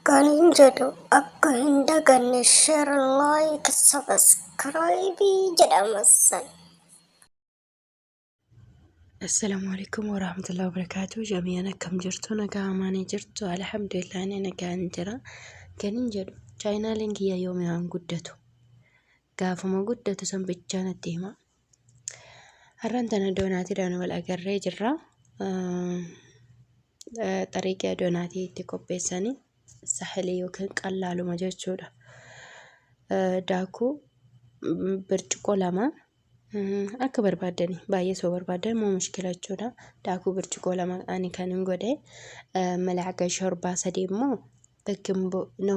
Kanin jedhu akka hin daganne share like subscribe jedha massan. Assalamu alaikum warahmatullahi wabarakatuh. Jami'an akkam jirtu nagaa amaanii jirtu alhamdulillah ni nagaan jira. Kanin jedhu chaayinaaliin kiyya yoomiyaan guddatu gaafuma guddatu san bichaa natti hima. Har'an tana doonaatiidhaan wal agarree jirra. Xariiqii doonaatii itti qopheessanii sahalee yookiin qallaaluma jechuudha. Daakuu birciqoo lama akka barbaadani baay'ee soo barbaadan moo mushkila jechuudha. Daakuu birciqoo lama ani kan hin godhe malaaqa shorbaa sadii immoo bakkin no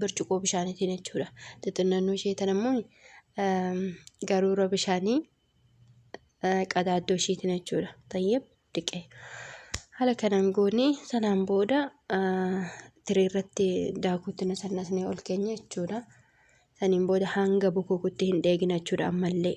bircuqoo bishaaniitiin jechuudha. Xixinnannoo ishee tan ammoo garuura bishaanii qadaaddoo isheetiin jechuudha. Tayyib dhiqee. Haala kanaan goonee sanaan booda tiree irratti daakuutti nasannasnee ol keenya jechuudha. Saniin booda hanga bukukutti hin dheegina jechuudha ammallee.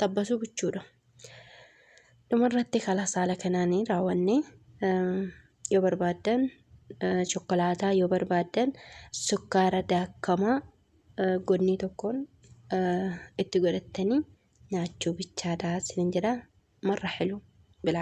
xabbasuu gochuudha. Dhumarratti kalas haala kanaan raawwanne yoo barbaaddan chokkolaataa yoo barbaaddan sukkaara daakamaa godnii tokkoon itti godhattanii nyaachuu bichaadha isinin jedha marra hilu bilaaf.